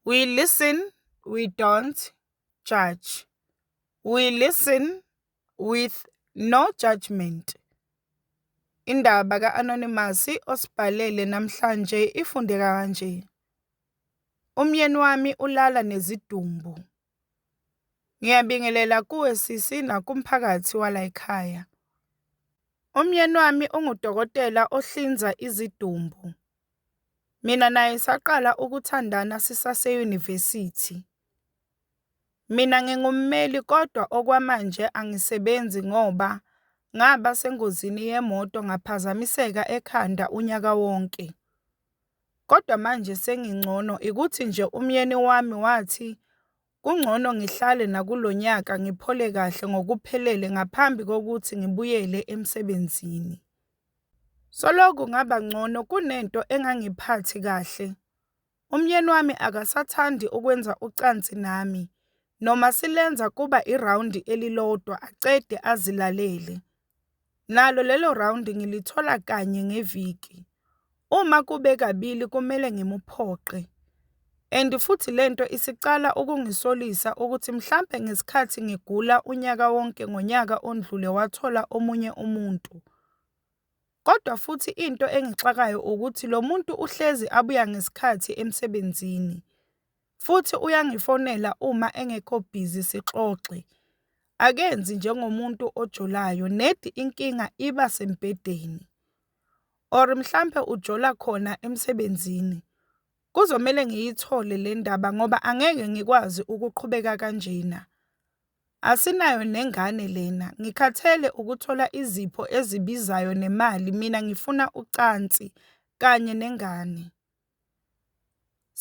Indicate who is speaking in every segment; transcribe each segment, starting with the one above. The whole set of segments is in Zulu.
Speaker 1: We listen, we don't judge. We listen with no judgement. Indaba ka-Anonymous osibhalele namhlanje ifundeka kanje. Umyeni wami ulala nezidumbu. Ngiyabingelela kuwe sisi nakumphakathi walayikhaya. Umyeni wami ungudokotela ohlinza izidumbu. Mina naye saqala ukuthandana sisase yunivesithi. Mina ngingummeli kodwa okwamanje angisebenzi ngoba ngaba sengozini yemoto ngaphazamiseka ekhanda unyaka wonke. Kodwa manje sengingcono, ikuthi nje umyeni wami wathi kungcono ngihlale nakulo nyaka ngiphole kahle ngokuphelele ngaphambi kokuthi ngibuyele emsebenzini. Soloku ngaba ngcono kunento engangiphathi kahle. Umyeni wami akasathandi ukwenza ucansi nami, noma silenza kuba irawundi elilodwa aqede azilalele, nalo lelo rawundi ngilithola kanye ngeviki. Uma kube kabili kumele ngimuphoqe and futhi le nto isiqala ukungisolisa ukuthi mhlampe ngesikhathi ngigula unyaka wonke ngonyaka ondlule wathola omunye umuntu. Kodwa futhi into engixakayo ukuthi lo muntu uhlezi abuya ngesikhathi emsebenzini. futhi uyangifonela uma engekho busy sixoxe. Akenzi njengomuntu ojolayo nedi inkinga iba sembhedeni or mhlampe ujola khona emsebenzini. Kuzomele ngiyithole le ndaba ngoba angeke ngikwazi ukuqhubeka kanjena. Asinayo nengane lena, ngikhathele ukuthola izipho ezibizayo nemali mina ngifuna ucansi kanye nengane.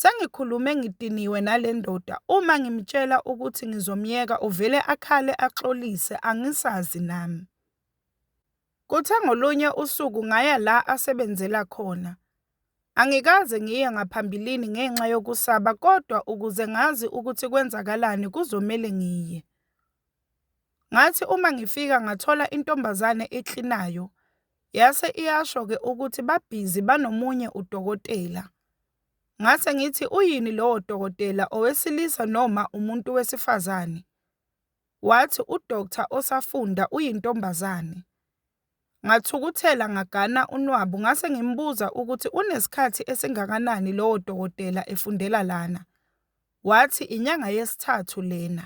Speaker 1: Sengikhulume ngidiniwe nale ndoda, uma ngimtshela ukuthi ngizomyeka uvele akhale axolise angisazi nami. Kuthe ngolunye usuku ngaya la asebenzela khona. Angikaze ngiye ngaphambilini ngenxa yokusaba kodwa ukuze ngazi ukuthi kwenzakalani kuzomele ngiye. Ngathi uma ngifika ngathola intombazane eklinayo, Yase iyasho ke ukuthi babhizi banomunye udokotela. Ngase ngithi uyini lowo dokotela owesilisa noma umuntu wesifazane? Wathi udoctor osafunda uyintombazane. Ngathukuthela ngagana unwabu ngase ngimbuza ukuthi unesikhathi esingakanani lowo dokotela efundela lana. Wathi inyanga yesithathu lena.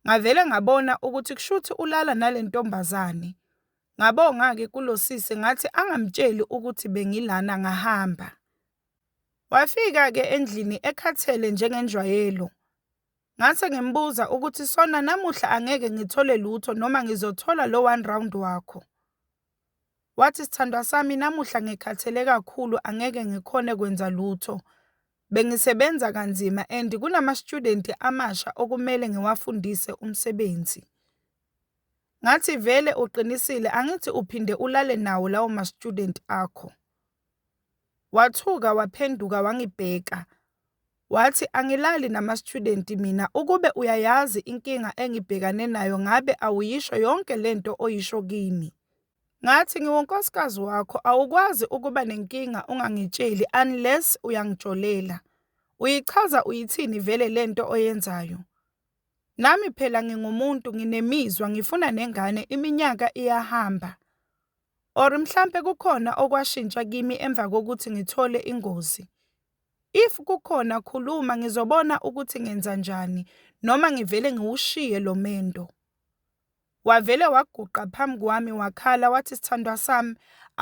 Speaker 1: Ngavele ngabona ukuthi kushuthi ulala nalentombazane. Ngabonga-ke kulo sisi ngathi angamtsheli ukuthi bengilana ngahamba. Wafika-ke endlini ekhathele njengenjwayelo. Ngase ngimbuza ukuthi sona namuhla angeke ngithole lutho noma ngizothola lo one round wakho. Wathi sthandwa sami namuhla ngikhathele kakhulu angeke ngikhone kwenza lutho. Bengisebenza kanzima and kunama student amasha okumele ngiwafundise umsebenzi. ngathi vele uqinisile angithi uphinde ulale nawo lawo ma student akho. Wathuka waphenduka wangibheka wathi angilali nama student mina ukube uyayazi inkinga engibhekane nayo ngabe awuyisho yonke lento oyisho kimi. Ngathi ngiwunkosikazi wakho awukwazi ukuba nenkinga ungangitsheli unless uyangijolela. Uyichaza uyithini vele lento oyenzayo? Nami phela ngingumuntu nginemizwa ngifuna nengane iminyaka iyahamba or mhlampe kukhona okwashintsha kimi emva kokuthi ngithole ingozi. If kukhona khuluma ngizobona ukuthi ngenzanjani noma ngivele ngiwushiye lo mendo. Wavele waguqa phambi kwami wakhala wathi sthandwa sami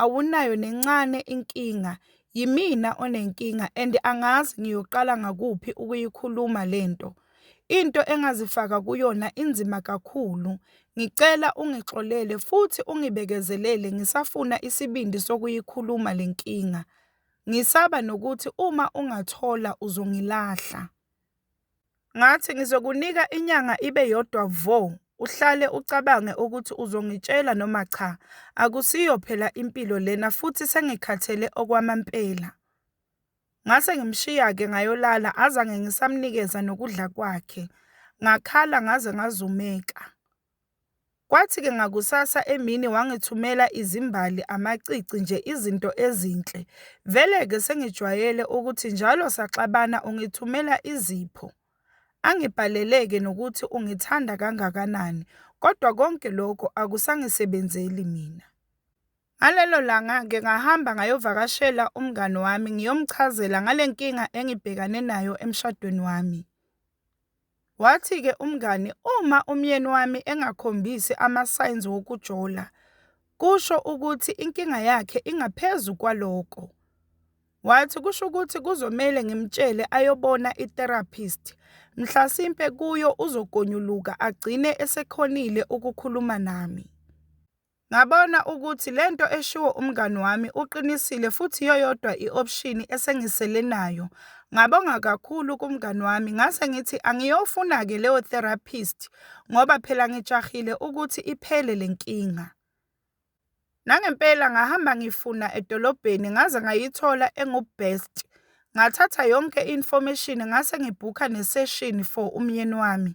Speaker 1: awunayo nencane inkinga yimina onenkinga and angazi ngiyoqala ngakuphi ukuyikhuluma lento into engazifaka kuyona inzima kakhulu ngicela ungixolele futhi ungibekezelele ngisafuna isibindi sokuyikhuluma lenkinga ngisaba nokuthi uma ungathola uzongilahla. Ngathi, Ngizokunika inyanga ibe yodwa vo, uhlale ucabange ukuthi uzongitshela noma cha. Akusiyo phela impilo lena futhi sengikhathele okwamampela. Ngase ngimshiya-ke ngayolala, azange ngisamnikeza nokudla kwakhe. Ngakhala ngaze ngazumeka. Kwathi-ke ngakusasa emini wangithumela izimbali, amacici nje izinto ezinhle. Vele-ke sengijwayele ukuthi njalo saxabana ungithumela izipho. Angibhalele-ke nokuthi ungithanda kangakanani kodwa konke lokho akusangisebenzeli mina. Ngalelo langa-ke ngahamba ngayovakashela umngani wami ngiyomchazela ngale nkinga engibhekane nayo emshadweni wami. Wathi-ke umngani uma umyeni wami engakhombisi ama-signs wokujola kusho ukuthi inkinga yakhe ingaphezu kwaloko. Wathi kusho ukuthi kuzomele ngimtshele ayobona i-therapist, mhlasimpe kuyo uzogonyuluka agcine esekhonile ukukhuluma nami. Ngabona ukuthi le nto eshiwo umngani wami uqinisile futhi iyoyodwa i-option esengisele nayo. Ngabonga kakhulu kumngani wami ngase ngithi angiyofuna-ke leyo therapist ngoba phela ngijahile ukuthi iphele le nkinga. Nangempela ngahamba ngifuna edolobheni ngaze ngayithola engu-best. Ngathatha yonke i-information ngase ngibhukha ne-session for umyeni wami.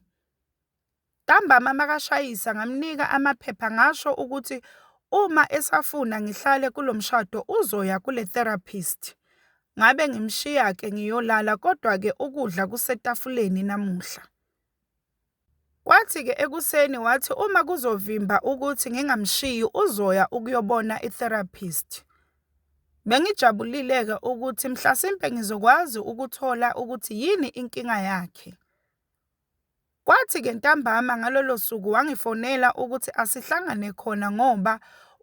Speaker 1: Ntambama makashayisa ngamnika amaphepha ngasho ukuthi uma esafuna ngihlale kulo mshado uzoya kule therapist. Ngabe ngimshiya-ke ngiyolala kodwa-ke ukudla kusetafuleni namuhla. Kwathi-ke ekuseni wathi uma kuzovimba ukuthi ngingamshiyi uzoya ukuyobona i-therapist. Bengijabulile-ke ukuthi mhlasimpe ngizokwazi ukuthola ukuthi yini inkinga yakhe. Kwathi-ke ntambama ngalolo suku wangifonela ukuthi asihlangane khona ngoba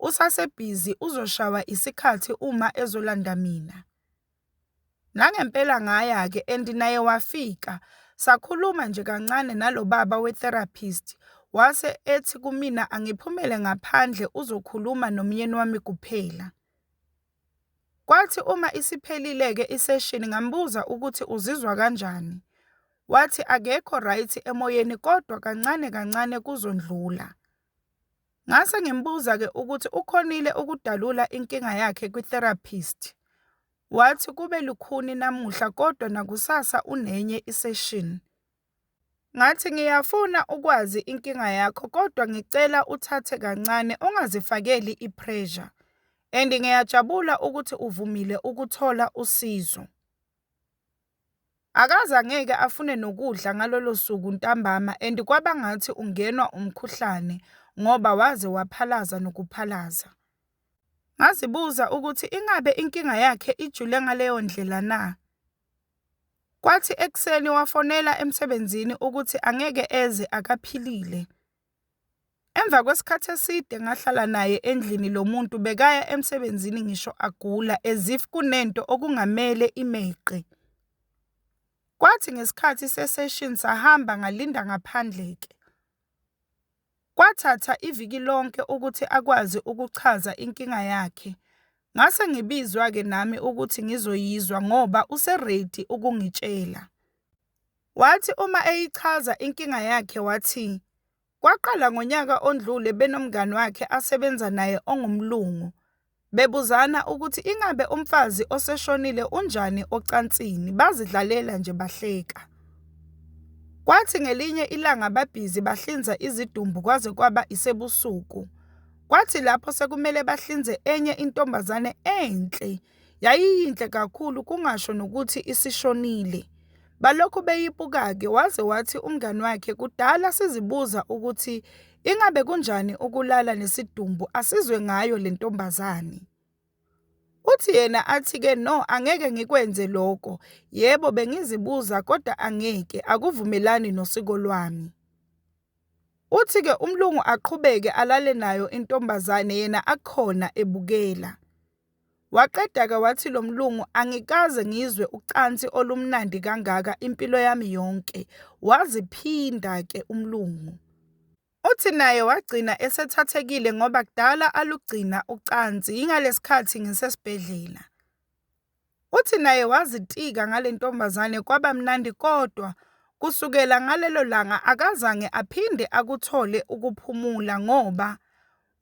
Speaker 1: usasebhizi uzoshawa isikhathi uma ezolanda mina. Nangempela ngaya-ke and naye wafika sakhuluma nje kancane nalo baba we-therapist wase ethi kumina angiphumele ngaphandle uzokhuluma nomyeni wami kuphela. Kwathi uma isiphelile-ke iseshini ngambuza ukuthi uzizwa kanjani, wathi akekho right emoyeni kodwa kancane kancane kuzondlula. Ngase ngimbuza-ke ukuthi ukhonile ukudalula inkinga yakhe kwi-therapist, wathi kube lukhuni namuhla kodwa nakusasa unenye iseshini. Ngathi, Ngiyafuna ukwazi inkinga yakho kodwa ngicela uthathe kancane ungazifakeli i-pressure and ngiyajabula ukuthi uvumile ukuthola usizo. Akaze angeke afune nokudla ngalolo suku ntambama and kwaba ngathi ungenwa umkhuhlane ngoba waze waphalaza nokuphalaza. Ngazibuza ukuthi ingabe inkinga yakhe ijule ngaleyo ndlela na? Kwathi ekuseni wafonela emsebenzini ukuthi angeke eze akaphilile. Emva kwesikhathi eside ngahlala naye endlini lo muntu bekaya emsebenzini ngisho agula as if kunento okungamele imeqe. Kwathi ngesikhathi se-session sahamba ngalinda ngaphandle-ke. Kwathatha iviki lonke ukuthi akwazi ukuchaza inkinga yakhe. Ngase ngibizwa-ke nami ukuthi ngizoyizwa ngoba use-ready ukungitshela. Wathi uma eyichaza inkinga yakhe wathi, kwaqala ngonyaka ondlule benomngani wakhe asebenza naye ongumlungu. bebuzana ukuthi ingabe umfazi oseshonile unjani ocansini bazidlalela nje bahleka. Kwathi ngelinye ilanga babhizi bahlinza izidumbu kwaze kwaba isebusuku. Kwathi lapho sekumele bahlinze enye intombazane enhle yayiyinhle kakhulu kungasho nokuthi isishonile. Balokhu beyibuka-ke waze wathi umngani wakhe kudala sizibuza ukuthi Ingabe kunjani ukulala nesidumbu asizwe ngayo le ntombazane? Uthi yena athi-ke no angeke ngikwenze lokho, yebo bengizibuza kodwa angeke, akuvumelani nosiko lwami. Uthi-ke umlungu aqhubeke alale nayo intombazane yena akhona ebukela. Waqeda-ke wathi lo mlungu, Angikaze ngizwe ucansi olumnandi kangaka impilo yami yonke. Waziphinda-ke umlungu. Uthi naye wagcina esethathekile ngoba kudala alugcina ucansi, yingalesikhathi ngisesibhedlela. Uthi naye wazitika ngale ntombazane kwaba mnandi kodwa kusukela ngalelo langa akazange aphinde akuthole ukuphumula ngoba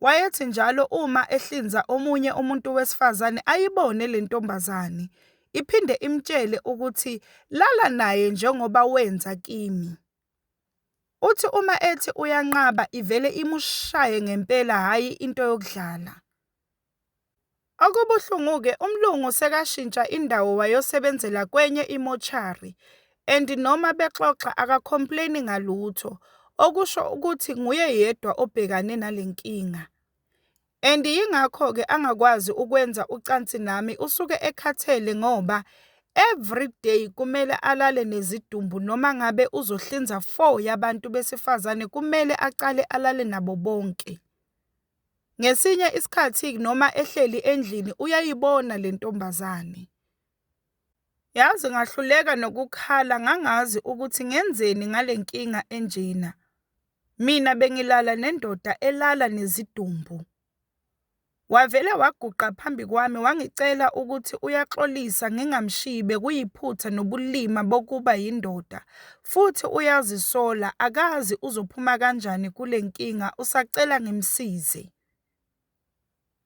Speaker 1: Wayethi njalo uma ehlinza omunye umuntu wesifazane ayibone le ntombazane, iphinde imtshele ukuthi lala naye njengoba wenza kimi. Uthi uma ethi uyanqaba ivele imushaye ngempela hhayi into yokudlala. Okubuhlungu-ke umlungu sekashintsha indawo wayosebenzela kwenye imoshari and noma bexoxa aka-complain-i ngalutho, okusho ukuthi nguye yedwa obhekane nale nkinga and yingakho-ke angakwazi ukwenza ucansi nami usuke ekhathele ngoba everyday kumele alale nezidumbu noma ngabe uzohlinza four yabantu besifazane kumele aqale alale nabo bonke. Ngesinye isikhathi noma ehleli endlini uyayibona le ntombazane. Yazi ngahluleka nokukhala ngangazi ukuthi ngenzeni ngale nkinga enjena. Mina bengilala nendoda elala nezidumbu. Wavele waguqa phambi kwami wangicela ukuthi uyaxolisa ngingamshiyi bekuyiphutha nobulima bokuba yindoda futhi uyazisola akazi uzophuma kanjani kule nkinga usacela ngimsize.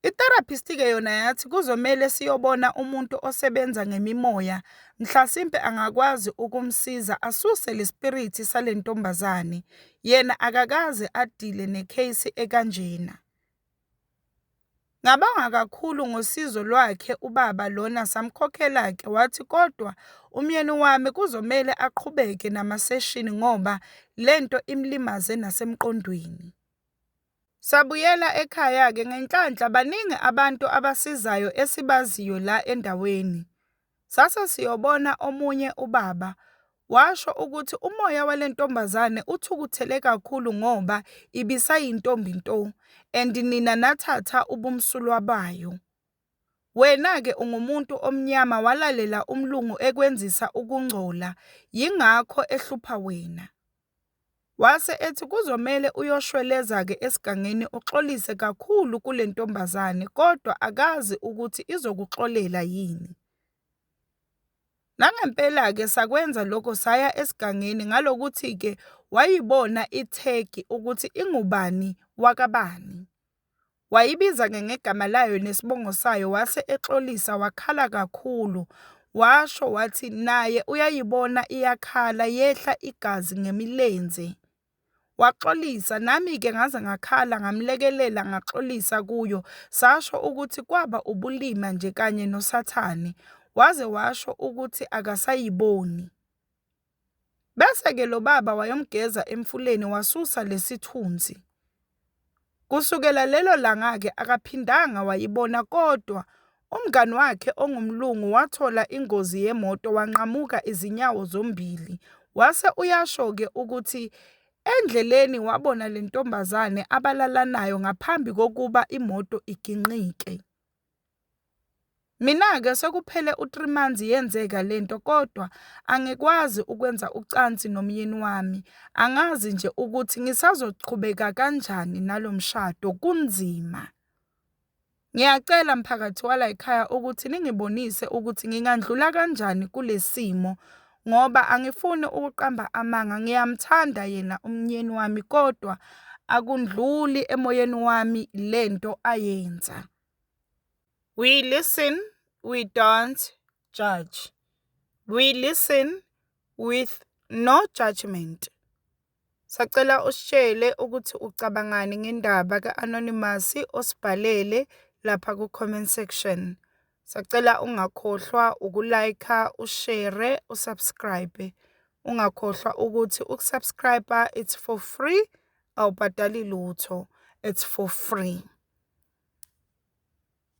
Speaker 1: I-therapist-ke yona yathi kuzomele siyobona umuntu osebenza ngemimoya mhlasimpe angakwazi ukumsiza asuse lespirithi salentombazane yena akakaze adile necase ekanjena. Ngabonga kakhulu ngosizo lwakhe ubaba lona samkhokhela-ke wathi kodwa umyeni wami kuzomele aqhubeke namaseshini ngoba le nto imlimaze nasemqondweni. Sabuyela ekhaya-ke ngenhlanhla baningi abantu abasizayo esibaziyo la endaweni. Sase siyobona omunye ubaba, washo ukuthi umoya wale ntombazane uthukuthele kakhulu ngoba ibisayintombi nto and nina nathatha ubumsulwa bayo. Wena-ke ungumuntu omnyama walalela umlungu ekwenzisa ukungcola, yingakho ehlupha wena. Wase ethi kuzomele uyoshweleza-ke esigangeni uxolise kakhulu kule ntombazane kodwa akazi ukuthi izokuxolela yini. Nangempela-ke sakwenza lokho saya esigangeni ngalokuthi-ke wayibona ithegi ukuthi ingubani wakabani. wayibiza-ke ngegama layo nesibongo sayo wase exolisa wakhala kakhulu washo wathi naye uyayibona iyakhala yehla igazi ngemilenze. Waxolisa nami-ke ngaze ngakhala ngamlekelela ngaxolisa kuyo sasho ukuthi kwaba ubulima nje kanye noSathane waze washo ukuthi akasayiboni. Bese-ke lo baba wayomgeza emfuleni wasusa lesi thunzi. Kusukela lelo langa-ke akaphindanga wayibona kodwa umngani wakhe ongumlungu wathola ingozi yemoto wanqamuka izinyawo zombili. Wase uyasho-ke ukuthi endleleni wabona le ntombazane abalalanayo ngaphambi kokuba imoto iginqike. Mina-ke sekuphele u-three months yenzeka le nto kodwa angikwazi ukwenza ucansi nomyeni wami. Angazi nje ukuthi ngisazoqhubeka kanjani nalo mshado, kunzima. Ngiyacela mphakathi walay'khaya ukuthi ningibonise ukuthi ngingandlula kanjani kule simo. ngoba angifuni ukuqamba amanga ngiyamthanda yena umnyeni wami kodwa akundluli emoyeni wami lento ayenza we listen we don't judge we listen with no judgment Sacela usitshele ukuthi ucabangani ngendaba ka-anonymous osibhalele lapha ku-comment section. Sacela ungakhohlwa uku-like-a, ushere, u-subscribe. Ungakhohlwa ukuthi uku-subscribe-a it's for free, awubhadali lutho. It's for free.